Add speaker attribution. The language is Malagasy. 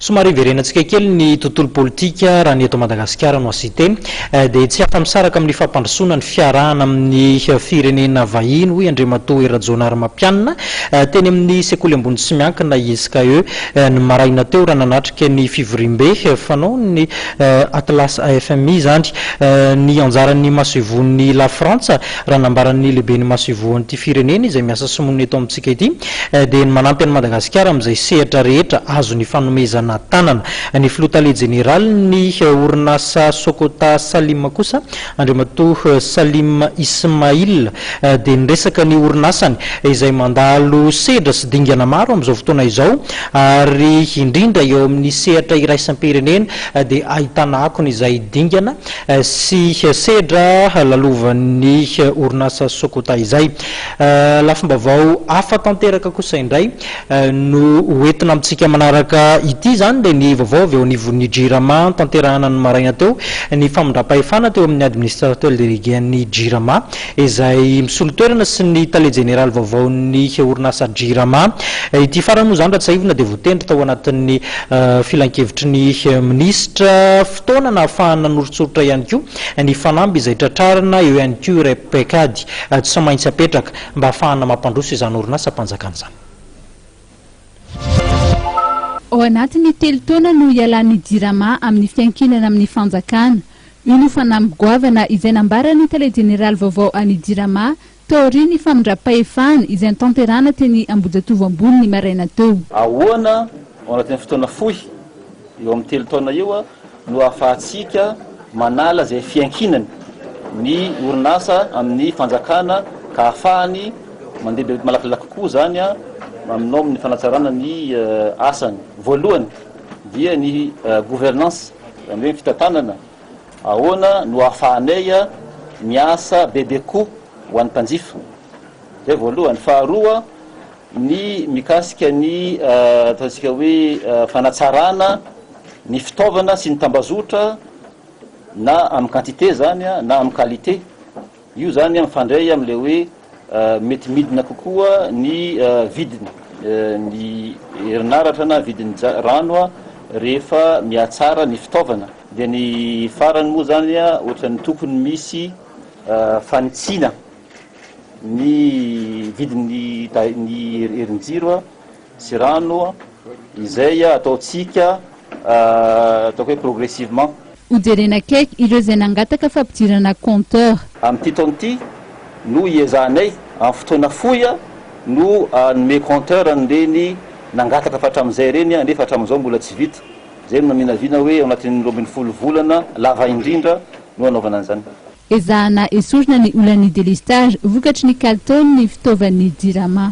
Speaker 1: Somary hiverenantsika kely ny tontolo politika raha ny eto Madagasikara no asite dia tsy afa-misaraka amin'ny fampandrosoana ny fiarahana amin'ny firenena vahiny hoy Andriamatoa Hery Rajaonarimampianina teny amin'ny sekoly ambony tsy miankina ISKE ny maraina teo raha nanatrika ny fivoriambe fanaon'ny Atlas AFMI izany ny anjaran'ny masoivohon'i Lafrantsa raha nambaran'ny lehiben'ny masoivohon'ity firenena izay miasa sy monina eto amintsika ity dia ny manampy an'i Madagasikara amin'izay sehatra rehetra azony ifanomezana tanana. Ny Filoha Tale Jeneralin'ny orinasa Sokota Salim kosa, Andriamatoa Salim Ismail, dia niresaka ny orinasany izay mandalo sedra sy dingana maro amin'izao fotoana izao ary indrindra eo amin'ny sehatra iraisam-pirenena dia ahitana akony izay dingana sy sedra lalovan'ny orinasa Sokota izay. Lafim-baovao hafa tanteraka kosa indray no ho entina amintsika manaraka ity. Izany dia ny vaovao avy eo anivon'ny Jirama tanterahina ny maraina teo. Ny famindram-pahefana teo amin'ny Administrateur Délégué-n'ny Jirama izay misolo toerana sy ny Tale Jeneraly vaovaon'ny orinasa Jirama. Ity farany moa izany raha tsiahivina dia voatendry tao anatin'ny Filankevitry ny Minisitra fotoana nahafahany nanoritsoritra ihany koa. Ny fanamby izay tratrarina eo ihany koa iray paikady tsy maintsy apetraka mba hahafahana mampandroso izany orinasam-panjakana izany.
Speaker 2: Ao anatin'ny telo taona no hialan'ny Jirama amin'ny fiankinana amin'ny fanjakana. Io no fanamby goavana izay nambaran'ny tale jeneraly vaovao an'ny Jirama, Taorian'ny famindram-pahefana izay notanterahana teny Ambohijatovo Ambony ny maraina teo. Ahoana
Speaker 3: ao anatin'ny fotoana fohy eo amin'ny telo taona io no ahafahantsika manala izay fiankinany ny orinasa amin'ny fanjakana ka ahafahany mandeha be malakilaky kokoa izany aminao amin'ny fanatsarana ny asany? Voalohany dia ny gouvernance, izany hoe ny fitantanana. Ahoana no ahafahanay miasa bebe koa ho an'ny mpanjifa? Izay voalohany. Faharoa, ny mikasika ny ataontsika hoe fanatsarana ny fitaovana sy ny tambazotra na amin'ny quantité izany na amin'ny qualité. Io izany mifandray amin'ilay hoe mety midina kokoa ny vidiny ny herinaratra na vidin'ny rano rehefa mihatsara ny fitaovana. Dia ny farany moa izany ohatran'ny tokony misy fanitsiana ny vidin'ny ny herin-jiro. sy rano izay ataontsika ataoko hoe progressivement. Ho jerena akaiky
Speaker 2: ireo izay nangataka fampidirana compteur. Amin'ity taona ity
Speaker 3: no hiezahanay amin'ny fotoana fohy no hanome compteur an'ireny nangataka fa hatramin'izay ireny nefa hatramin'izao mbola tsy vita. Izay no naminavina hoe ao anatin'ny roa ambin'ny folo volana lava indrindra no hanaovana an'izany. Ezahana
Speaker 2: esorina ny olan'ny delestage vokatry ny kalitaon'ny fitaovan'ny Jirama.